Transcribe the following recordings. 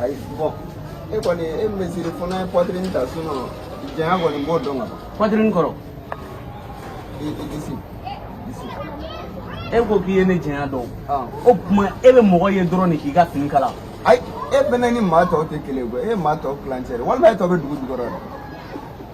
ayi bon e kɔni e mesiri fana ye pɔtirini ta sinɔn janya kɔni n b'o dɔn ka ban pɔtirini kɔrɔ i disi disi e ko k'i ye ne janya dɔn o tuma e bɛ mɔgɔ ye dɔrɔn de k'i ka fini kala ayi e fana ni maa tɔw tɛ kelen ye koyi e ye maa tɔw tilancɛ de walima e tɔ bɛ dugu jukɔrɔ yɛrɛ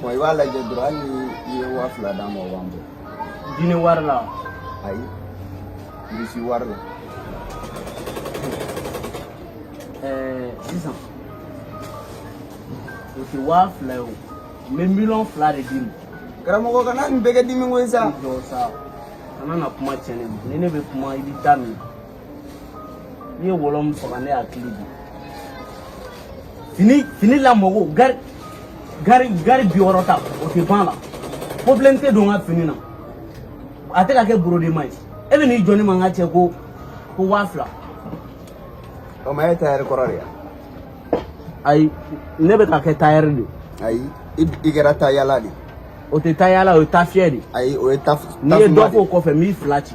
Bon i b'a lajɛ dɔrɔn hali ni i ye waa fila d'an ma o b'an bɔ. Gine wari la. Ayi irisi wari la. Ɛɛ sisan o tɛ waa fila ye o n bɛ miliyɔn fila de d'i ma. Karamɔgɔ kana nin bɛɛ kɛ dimi ko ye sa. Jɔ sa kana na kuma tiɲɛ ne ma ni ne bɛ kuma i b'i da minɛ. n'i ye wɔlɔ min faga ne hakili bi fini fini lamɔko gari gari gari bi wɔɔrɔ ta o tɛ ban la problème tɛ don n ka fini na a tɛ ka kɛ borodema ye e bɛ n'i jɔ ne ma n ka cɛ ko ko waa fila. o ma e tayɛri kɔrɔ de ya. ayi ne bɛ ka kɛ tayɛri de. ayi i kɛra tayala de. o tɛ tayala o ye tafiyɛ de. ayi o ye taf. n'i ye dɔ k'o kɔfɛ n b'i fila ci.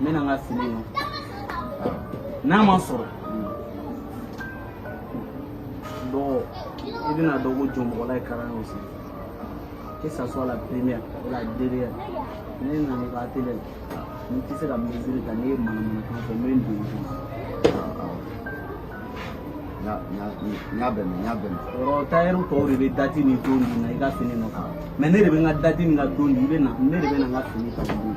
n bɛ na n ka fini in n'a ma sɔrɔ dɔgɔ i bɛn'a dɔn ko jɔnmɔgɔla ye kalan y'o sen que ça soit la première ou la dernière ne nana i ka atelier la n tɛ se ka mesure ta ne ye manamanakan fɔ n bɛ n dogo n y'a bɛn n y'a bɛn yɔrɔ tayɛri tɔw de bɛ dati ni don di na i ka fini nɔfɛ mɛ ne de bɛ n ka dati ni n ka don di i bɛ na ne de bɛ na n ka fini ta don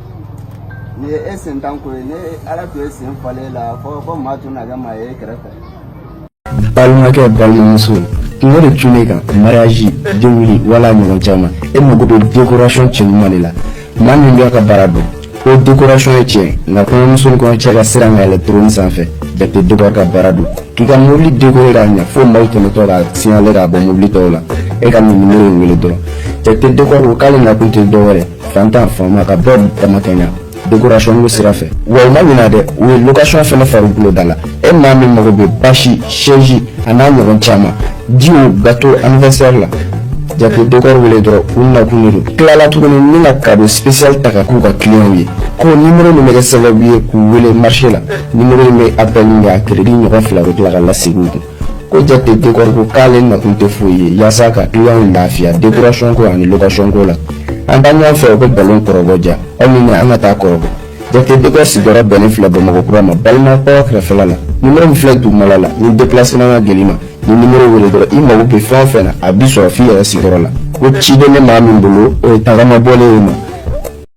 nin ye e sentan ko ye ni ala tun ye sen falen i la fɔ fɔ maa tun na kɛ maa ye e kɛrɛfɛ balimakɛ balimamuso kunko de tun ne kan mariage denkundi wal'a ɲɔgɔn caman e mago bɛ décoration cɛɲuman de la maa min b'a ka baara dɔn ko décoration ye tiɲɛ nka kɔɲɔmuso ni kɔɲɔcɛ ka sira ka yɛlɛ trône sanfɛ jate décor ka baara don k'i ka mobili décoré k'a ɲɛ fo maaw tɛmɛtɔ ka signalé k'a bɔ mobili tɔw la e kɔni nimoro in wele dɔrɔn jate décor ko k'ale nakun tɛ dɔwɛrɛ faantan faama ka bɛɛ damakɛɲɛ dekorasɔn ko sira fɛ wa u ma ɲina dɛ u ye lokasɔn fana fara bolo da la e maa min mago bɛ basi sɛzi an'a ɲɔgɔn caman jiw gato aniwɛrisɛri la jate dekɔri wele dɔrɔn u nakun de don tilala tuguni ni ka kado sipesiyali ta ka k'u ka kiliyanw ye ko nimoro min bɛ kɛ sababu ye k'u wele marise la nimoro nin bɛ apɛli a keredi ɲɔgɔn fila u tila ka lase kun ko jate dekɔri ko k'ale nakun tɛ foyi ye yaasa ka kiliyanw lafiya dekorasɔn ko ani lokasɔn ko la an taa ɲɔgɔn fɛ u bɛ balon kɔrɔbɔ ja aw ni ne an ka taa kɔrɔbɔ jate dekɔri sigiyɔrɔ bɛnnen filɛ bamakɔ kura ma balimakaw kɛrɛfɛla la nimoro min filɛ dugumala la ni depilasema ka gɛlɛn i ma n'i nimoro wele dɔrɔn i mago bɛ fɛn o fɛn na a b'i sɔrɔ f'i yɛrɛ sigiyɔrɔ la ko ciden bɛ maa min bolo o ye tagama bɔlen ye ma